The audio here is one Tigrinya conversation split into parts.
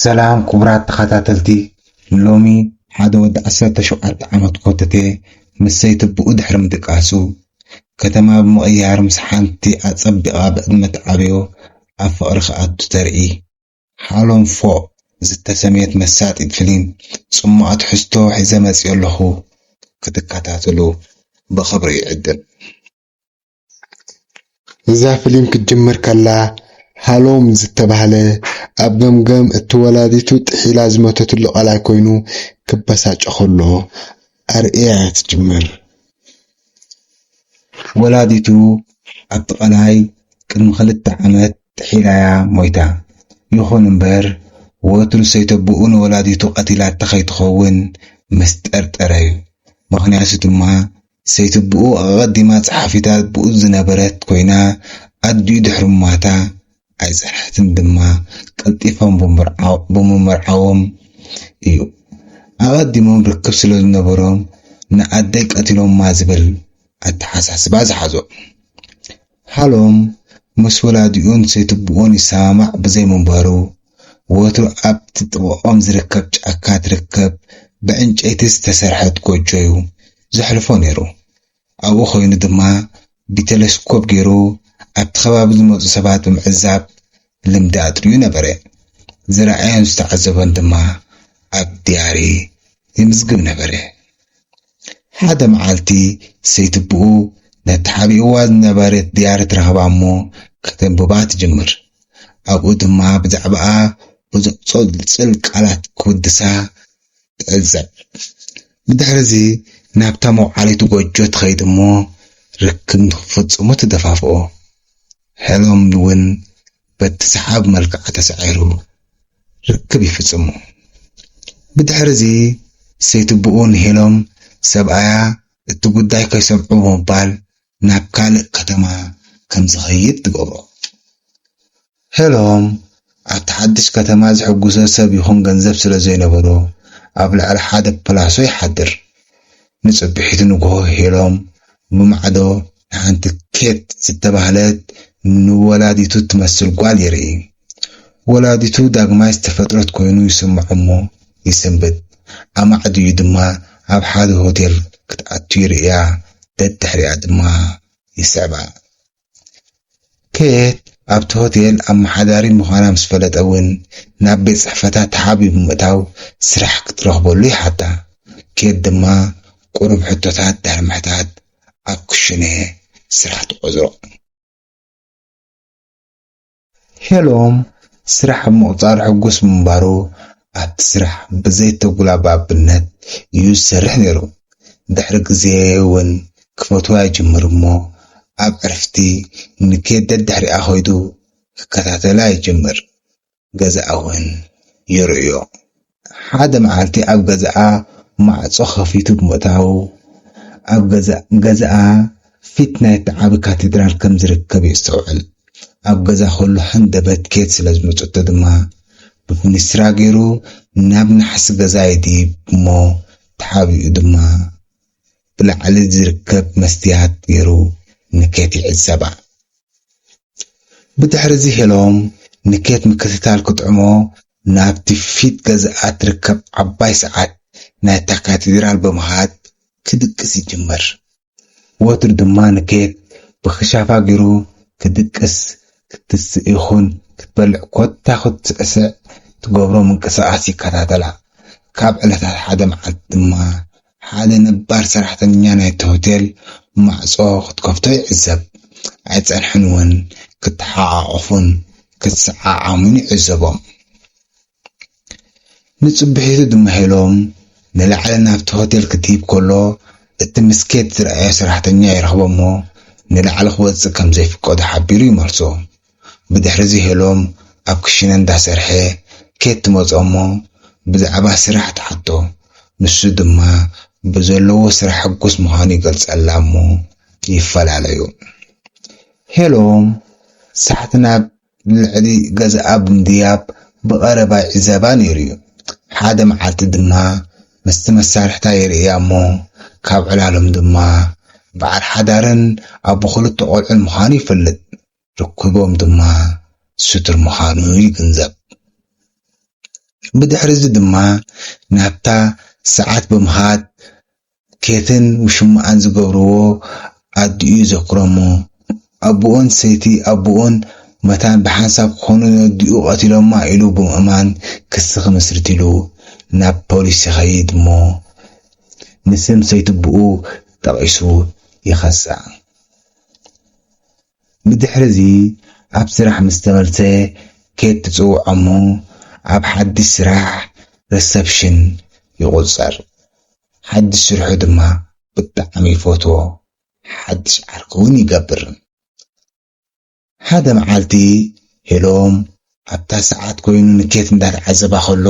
ሰላም ክቡራት ተኸታተልቲ ሎሚ ሓደ ወዲ ዓሰርተ ሸውዓተ ዓመት ኮተቴ ምስ ሰይትብኡ ድሕሪ ምድቃሱ ከተማ ብምቕያር ምስ ሓንቲ ኣጸቢቓ ብዕድመ ትዓብዮ ኣብ ፍቕሪ ክኣቱ ተርኢ ሓሎም ፎእ ዝተሰምየት መሳጢት ፍሊም ጽሟቕ ትሕዝቶ ሒዘ መጺኦ ኣለኹ ክትከታተሉ ብኽብሪ ይዕድም። እዛ ፍሊም ክትጅምር ከላ ሃሎም ዝተባህለ ኣብ ገምገም እቲ ወላዲቱ ጥሒላ ዝመተትሉ ቃላይ ኮይኑ ክበሳጮ ከሎ ኣርእያ እያ ትጅምር። ወላዲቱ ኣብቲ ቃላይ ቅድሚ ክልተ ዓመት ጥሒላ እያ ሞይታ። ይኹን እምበር ወትሩ ሰይተቦኡ ንወላዲቱ ቀቲላታ ከይትኸውን ምስ ጠርጠረ እዩ። ምኽንያቱ ድማ ሰይትብኡ ኣቐዲማ ጸሓፊት-ኣልቦኡ ዝነበረት ኮይና፣ ኣዲኡ ድሕሪ ምሟታ ኣይጸንሐትን ድማ፣ ቀልጢፎም ብምምርዓዎም እዩ። ኣቐዲሞም ርክብ ስለ ዝነበሮም ንኣደይ ቀቲሎማ ዝብል ኣተሓሳስባ ዝሓዞም። ሃሎም ምስ ወላዲኡን ሰይትብኡን ይሰማማዕ ብዘይ ምንባሩ፣ ወትሩ ኣብቲ ጥቓኦም ዝርከብ ጫካ ትርከብ ብዕንጨይቲ ዝተሰርሐት ጎጆ'ዩ ዘሕልፎ ነይሩ። ኣብኡ ኰይኑ ድማ ብቴለስኮብ ገይሩ ኣብቲ ከባቢ ዝመጹ ሰባት ብምዕዛብ ልምዲ ኣጥርዩ ነበረ። ዝረኣዮን ዝተዓዘቦን ድማ ኣብ ድያሪ ይምዝግብ ነበረ። ሓደ መዓልቲ ሰይትብኡ ነቲ ሓቢእዋ ዝነበረት ድያሪ ትረኽባ እሞ ከተንብባ ትጅምር። ኣብኡ ድማ ብዛዕባኣ ብዙሕ ጸልጸል ቃላት ክውድሳ ትዕዘብ። ብድሕርዚ ናብታ መውዓሊት ጎጆ ትኸይድ እሞ ርክብ ንኽፍጽሙ ትደፋፍኦ። ሄሎን እውን በቲ ሰሓብ መልክዓ ተሳዒሩ ርክብ ይፍጽሙ። ብድሕርዚ ሰይትብኡ ንሄሎም ሰብኣያ እቲ ጉዳይ ከይሰምዑ ብምባል ናብ ካልእ ከተማ ከም ዝኸይድ ትገብሮ። ሄሎም ኣብቲ ሓድሽ ከተማ ዝሕግዞ ሰብ ይኹን ገንዘብ ስለ ዘይነበሮ ኣብ ልዕሊ ሓደ ፕላሶ ይሓድር። ንጽብሒቱ ንግሆ ሄሎም ብማዕዶ ንሓንቲ ኬት ዝተባህለት ንወላዲቱ እትመስል ጓል ይርኢ። ወላዲቱ ዳግማይ ዝተፈጥረት ኮይኑ ይስምዖ'ሞ ይስንብድ። ኣማዕድዩ ድማ ኣብ ሓደ ሆቴል ክትኣቱ ይርእያ፣ ደድሕሪኣ ድማ ይስዕባ። ኬት ኣብቲ ሆቴል ኣመሓዳሪ ምዃና ምስ ፈለጠ እውን ናብ ቤት ጽሕፈታ ተሓቢኡ ብምእታው ስራሕ ክትረኽበሉ ይሓታ። ኬት ድማ ቁሩብ ሕቶታት ድሕሪ ምሕታት ኣብ ክሹነ ስራሕ ተቆጽሮ። ሄሎም ስራሕ ኣብ ምቕጻሩ ሕጉስ ምንባሩ፣ ኣብቲ ስራሕ ብዘይተጉላባብነት እዩ ዝሰርሕ ነይሩ። ድሕሪ ግዜ ውን ክፈትዋ ጀመሩ እሞ ኣብ ዕርፍቲ ንኬድ ደድሕሪኣ ከይዱ ክከታተላ ይጅምር። ገዛኣ እውን ይርእዮ። ሓደ መዓልቲ ኣብ ገዛኣ ማዕጾ ከፊቱ ብምእታዉ፣ ኣብ ገዛእ ገዛኣ ፊት ናይቲ ዓቢ ካቴድራል ከም ዝርከብ የስተውዕል። ኣብ ገዛ ከሎ ሃንደበት ኬት ስለ ዝመጸቶ ድማ፣ ብፊንስትራ ገይሩ ናብ ናሕሲ ገዛ ይድይብ እሞ ተሓቢኡ ድማ፣ ብላዕሊ ዝርከብ መስትያት ገይሩ ንኬት ይዕዘባ። ብድሕርዚ ሄሎም ንኬት ምክትታል ክጥዕሞ ናብቲ ፊት ገዝኣ እትርከብ ዓባይ ሰዓት ናይታ ካቴድራል ብምኻድ ክድቅስ ይጅምር። ወትሩ ድማ ንኬት ብክሻፋ ገይሩ ክድቅስ፣ ክትስእ ይኹን ክትበልዕ ኮታ ክትስዕስዕ ትገብሮ ምንቅስቓስ ይከታተላ። ካብ ዕለታት ሓደ መዓልቲ ድማ ሓደ ነባር ሰራሕተኛ ናይቲ ሆቴል ማዕጾ ክትከፍቶ ይዕዘብ። ኣይጸንሑን'ውን፣ ክተሓቛቖፉን ክሰዓዓሙን ይዕዘቦም። ንጽብሒቱ ድማ ሄሎም ንላዕሊ ናብቲ ሆቴል ክትድይብ ከሎ እቲ ምስ ኬት ዝረኣዮ ሰራሕተኛ ይረኽቦ'ሞ ንላዕሊ ክወጽእ ከም ዘይፍቀዶ ሓቢሩ ይመልሶ። ብድሕሪዚ ሄሎም ኣብ ክሽነ እንዳሰርሐ ኬት ትመጾ እሞ ብዛዕባ ስራሕ ትሓቶ ንሱ ድማ ብዘለዎ ስራሕ ሕጉስ ምዃኑ ይገልጸላ እሞ ይፈላለዩ ሄሎም ሳሕቲ ናብ ልዕሊ ገዛኣ ብምድያብ ብቀረባ ይዕዘባ ነይሩዩ ሓደ መዓልቲ ድማ ምስቲ መሳርሕታ ይርእያ እሞ ካብ ዕላሎም ድማ በዓል ሓዳርን ኣቦ ክልተ ቆልዑን ምዃኑ ይፈልጥ ርክቦም ድማ ስቱር ምዃኑ ይግንዘብ። ብድሕርዚ ድማ ናብታ ሰዓት ብምኻድ ኬትን ውሽማኣን ዝገብርዎ ኣዲኡ ይዘክሮ'ሞ ኣቡኡን ሰይቲ ኣቡኡን መታን ብሓንሳብ ክኾኑ ነዲኡ ቀቲሎማ ኢሉ ብምእማን ክሲ ክምስርትሉ ናብ ፖሊስ ይኸይድ'ሞ ንስም ሰይቲ'ቡኡ ጠቒሱ ይኸሳ። ብድሕርዚ ኣብ ስራሕ ምስ ተመልሰ ኬት ትጽውዖ እሞ ኣብ ሓድሽ ስራሕ ረሰፕሽን ይቑጸር። ሓድሽ ስርሑ ድማ ብጣዕሚ ይፈትዎ ሓድሽ ዓርኪ ውን ይገብር። ሓደ መዓልቲ ሄሎም ኣብታ ሰዓት ኮይኑ ንኬት እንዳተዓዘባ ከሎ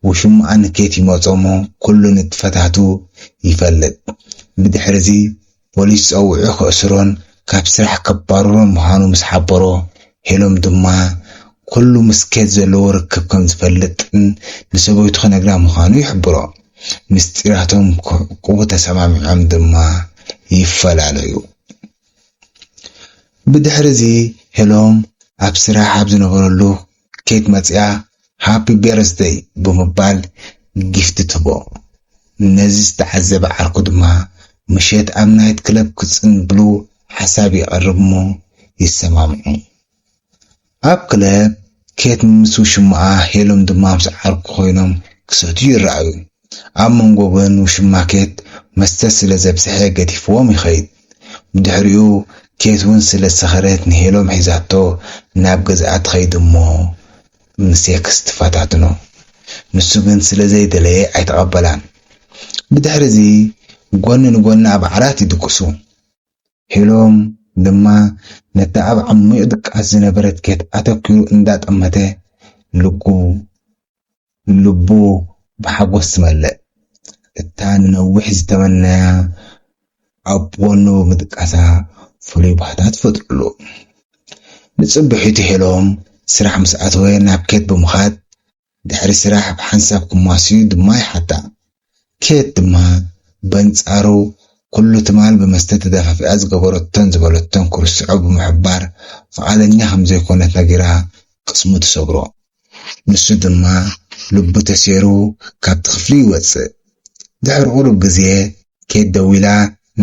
ውሽማኣ ንኬት ይመጾ'ሞ ኩሉ ንጥፈታቱ ይፈልጥ። ብድሕሪ'ዚ ፖሊስ ጸዊዑ ከእስሮን ካብ ስራሕ ከባርሮን ምዃኑ ምስ ሓበሮ፣ ሄሎም ድማ ኩሉ ምስ ኬት ዘለዎ ርክብ ከም ዝፈልጥን ንሰበይቱ ክነግራ ምዃኑ ይሕብሮ። ምስጢራቶም ክዕቅቡ ተሰማሚዖም ድማ ይፈላለዩ። ብድሕሪ'ዚ ሄሎም ኣብ ስራሕ ኣብ ዝነበረሉ ኬክ መጺኣ ሃፒ በርዝደይ ብምባል ጊፍቲ ትህቦ። ነዚ ዝተዓዘበ ዓርኩ ድማ ምሸት ኣብ ናይት ክለብ ክጽንብሉ ሓሳብ የቕርብ'ሞ ይሰማምዑ። ኣብ ክለብ ኬት ምስ ውሽማኣ ሄለን ድማ ምስ ዓርኩ ኮይኖም ክሰትዩ ይረኣዩ። ኣብ መንጎ ግን ውሽማ ኬት መስተ ስለ ዘብዝሐ ገዲፍዎም ይኸይድ። ብድሕሪኡ ኬት ውን ስለ ዝሰኸረት ንሄሎም ሒዛቶ ናብ ገዝኣ ትኸይድ'ሞ ንሴክስ ትፈታትኖ። ንሱ ግን ስለ ዘይደለየ ኣይተቐበላን። ብድሕሪ'ዚ ጎኒ ንጎኒ ኣብ ዓራት ይድቅሱ። ሄሎም ድማ ነታ ኣብ ዓሚቕ ድቃስ ዝነበረት ኬት ኣተኲሩ እንዳጠመተ ልቡ ልቡ ብሓጎስ ትመልእ። እታ ንነዊሕ ዝተመነያ ኣብ ጎኑ ብምድቃሳ ፍሉይ ባህታ ትፈጥረሉ። ንጽብሒቱ ሄሎም ስራሕ ምስ ኣተወ ናብ ኬት ብምኻድ ድሕሪ ስራሕ ብሓንሳብ ክሟስዩ ድማ ይሓታ። ኬት ድማ በንጻሩ ኩሉ ትማል ብመስተ ተደፋፊኣ ዝገበረቶን ዝበለቶን ክርስዖ ብምሕባር ፍቓደኛ ከም ዘይኮነት ነጊራ ቅስሙ ትሰብሮ። ንሱ ድማ ልቡ ተሴሩ ካብቲ ክፍሊ ይወጽእ። ድሕሪ ቁሩብ ግዜ ኬት ደዊላ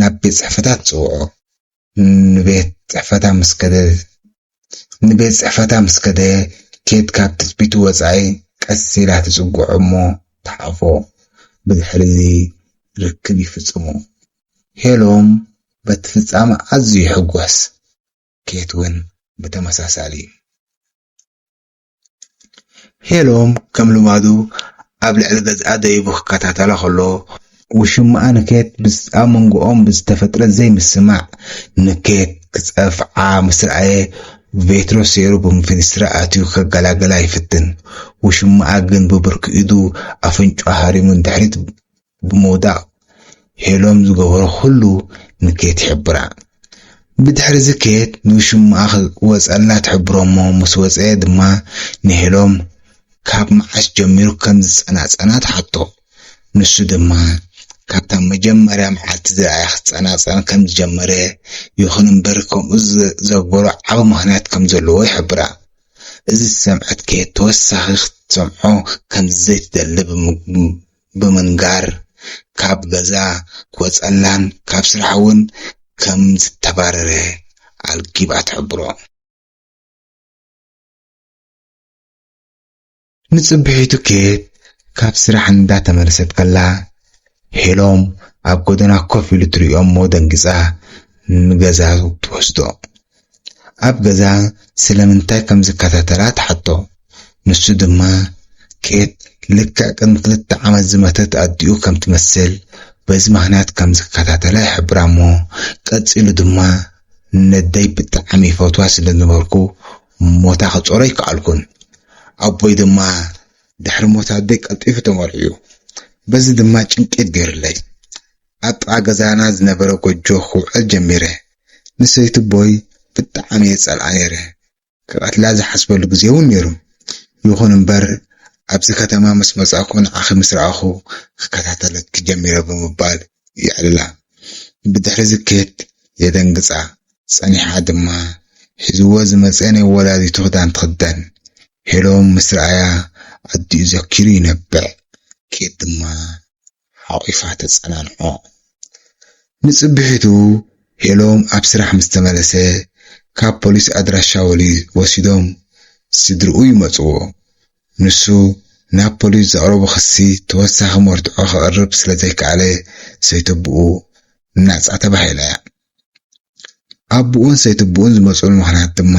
ናብ ቤት ጽሕፈታ ትጽውዖ። ንቤት ጽሕፈታ ምስ ከደ ንቤት ጽሕፈታ ምስ ከደ ኬት ካብ ትጽቢቱ ወጻኢ ቀስ ኢላ ትጽግዖ እሞ ትሓቕፎ። ብድሕርዚ ርክብ ይፍጽሙ። ሄሎም በቲ ፍጻመ ኣዝዩ ይሕጎስ፣ ኬት እውን ብተመሳሳሊ። ሄሎም ከም ልማዱ ኣብ ልዕሊ ገዝኣ ደይቡ ክከታተላ ከሎ፣ ውሽማኣ ንኬት ኣብ መንጎኦም ብዝተፈጥረ ዘይምስምማዕ ንኬት ክጸፍዓ ምስ ረኣየ ቬትሮ ሰይሩ ብፊንስትራ ኣትዩ ከገላግላ ይፍትን። ውሽማኣ ግን ብብርኪ ኢዱ ኣፍንጭኡ ሃሪሙ ንድሕሪት ብምውዳቕ ሄሎም ዝገበሮ ኹሉ ንኬት ይሕብራ። ብድሕሪዚ ኬት ንውሽምኣ ክወጸላ ትሕብሮ'ሞ ምስ ወጸ ድማ ንሄሎም ካብ መዓስ ጀሚሩ ከም ዝጸናጸና ትሓቶ። ንሱ ድማ ካብታ መጀመርያ መዓልቲ ዝረኣያ ክጸናጸን ከም ዝጀመረ ይኹን'ምበር ከምኡ ዘግበሮ ዓቢ ምኽንያት ከም ዘለዎ ይሕብራ። እዚ ዝሰምዐት ኬት ተወሳኺ ክትሰምዖ ከም ዘይትደሊ ብምግባር፣ ብምንጋር ካብ ገዛ ክወፀላን ካብ ስራሕ እውን ከምዝተባረረ ኣልጊባ ትሕብሮ። ንፅብሒቱ ኬት ካብ ስራሕ እንዳተመለሰት ከላ ሄሎም ኣብ ጎደና ኮፍ ኢሉ ትሪኦ'ሞ ደንጊፃ ንገዛ ትወስዶ። ኣብ ገዛ ስለምንታይ ከም ዝከታተላ ትሓቶ። ንሱ ድማ ኬት ልክዕ ቅድሚ ክልተ ዓመት ዝመተት ኣዲኡ ከም ትመስል በዚ ምኽንያት ከም ዝከታተላ ይሕብራ እሞ ቀጺሉ ድማ ነደይ ብጣዕሚ ይፈትዋ ስለ ዝነበርኩ ሞታ ክጾሮ ኣይከኣልኩን። ኣቦይ ድማ ድሕሪ ሞት ኣደይ ቀልጢፉ ተመርዕዩ በዚ ድማ ጭንቂት ገይሩለይ። ኣብ ጥቓ ገዛና ዝነበረ ጎጆ ክውዕል ጀሚረ። ንሰይትቦይ ብጣዕሚ እየ ዝጸልኣ ነይረ፣ ክቐትላ ዝሓስበሉ ግዜ እውን ነይሩ። ይኹን እምበር ኣብዚ ከተማ ምስ መጻእኩ ንዓኺ ምስ ረኣኹ ክከታተለኪ ጀሚረ ብምባል የዕልላ። ብድሕሪ'ዚ ኬት የደንግጻ፣ ጸኒሓ ድማ ሒዝዎ ዝመጸ ናይ ወላዲቱ ክዳን ትኽደን። ሄሎም ምስ ረኣያ ኣዲኡ ዘኪሩ ይነብዕ፣ ኬት ድማ ሓቚፋ ተጸናንዖ። ንጽብሒቱ ሄሎም ኣብ ስራሕ ምስ ተመለሰ፣ ካብ ፖሊስ ኣድራሻ ወሊ ወሲዶም ስድርኡ ይመጽዎ። ንሱ ናብ ፖሊስ ዘቕረቦ ክሲ ተወሳኺ መርትዖ ከቕርብ ስለ ዘይከኣለ ሰይተብኡ ናጻ ተባሂላ'ያ። ኣቡኡን ሰይትቡኡን ዝመጽእሉ ምኽንያት ድማ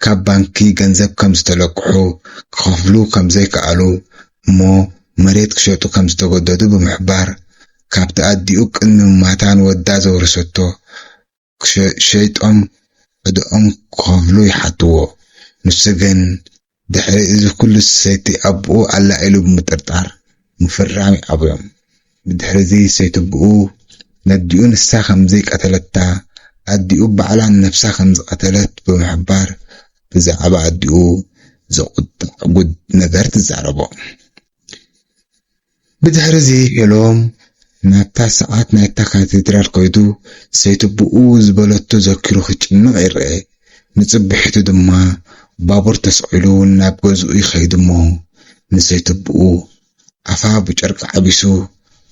ካብ ባንኪ ገንዘብ ከም ዝተለቅሑ፣ ክኸፍሉ ከም ዘይከኣሉ እሞ መሬት ክሸጡ ከም ዝተገደዱ ብምሕባር፣ ካብቲ ኣዲኡ ቅድሚ ምማታ ንወዳ ዘውረሰቶ ሸይጦም ዕደኦም ክኸፍሉ ይሓትዎ። ንሱ ግን ድሕሪ እዚ ኩሉ ሰይቲ ኣቡኡ ኣላ ኢሉ ብምጥርጣር ምፍራም ይኣብዮም። ብድሕሪ እዚ ሰይቱብኡ ነዲኡ ንሳ ከምዘይቀተለታ ኣዲኡ ባዕላ ንነብሳ ከምዝቐተለት ብምሕባር ብዛዕባ ኣዲኡ ዘቑጥዕ ጉድ ነገር ትዛረቦ። ብድሕርዚ ሄሎም ናብታ ሰዓት ናይታ ካቴድራል ከይዱ ሰይቲ ብኡ ዝበለቶ ዘኪሩ ክጭነቕ ይርኣ። ንጽብሒቱ ድማ ባቡር ተሰቒሉ ናብ ገዝኡ ይኸይድ'ሞ ንሰይቲ ብኡ ኣፋ ብጨርቂ ዓቢሱ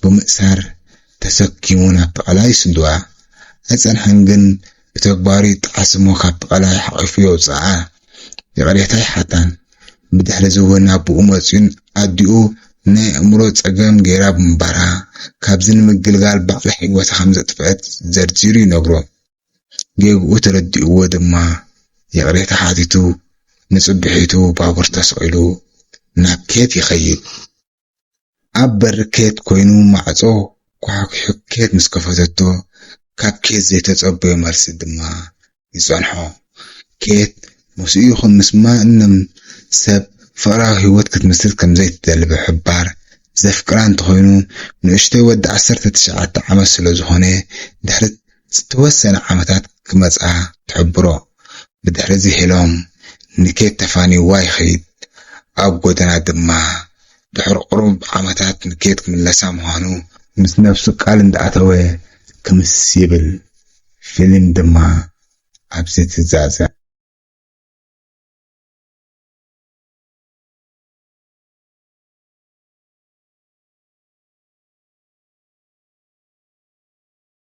ብምእሳር ተሰኪሙ ናብ ተቐላ ይስድዋ። ኣይጸንሐን ግን ብተግባሩ ይጠዓስ እሞ ካብ ብቐላይ ሓቒፉ የውጽኣ። ይቕሬታ ኣይሓታን። ብድሕሪ'ዚ'ውን ኣቦኡ መጺኡን ኣዲኡ ናይ ኣእምሮ ጸገም ገይራ ብምንባራ፣ ካብዚ ንምግልጋል ባዕላ ህይወታ ከም ዘጥፍኣት ዘርዚሩ ይነግሮ። ጌግኡ ተረዲኡዎ ድማ ይቕሬታ ሓቲቱ ንጽብሒቱ ባቡር ተሰቒሉ ናብ ኬት ይኸይድ። ኣብ በሪ ኬት ኮይኑ ማዕጾ ኳሕኲሑ ኬት ምስ ከፈተቶ ካብ ኬት ዘይተጸበዮ መልሲ ድማ ይጸንሖ። ኬት ምስኡ ይኹን ምስ ማንም ሰብ ፍቕራዊ ህይወት ክትምስርት ከም ዘይትደሊ ብምሕባር፣ ዘፍቅራ እንተኾይኑ ንእሽቶይ ወዲ ዓሰርተ ትሽዓተ ዓመት ስለ ዝኾነ ድሕሪ ዝተወሰነ ዓመታት ክመጽኣ ትሕብሮ። ብድሕሪ'ዚ ሄሎም ንኬት ተፋንይዋ ይኸይድ። ኣብ ጎደና ድማ ድሕሪ ቁሩብ ዓመታት ንኬት ክምለሳ ምዃኑ ምስ ነብሱ ቃል እንዳኣተወ ክምስ ይብል። ፊሊም ድማ ኣብዚ ትዛዘም።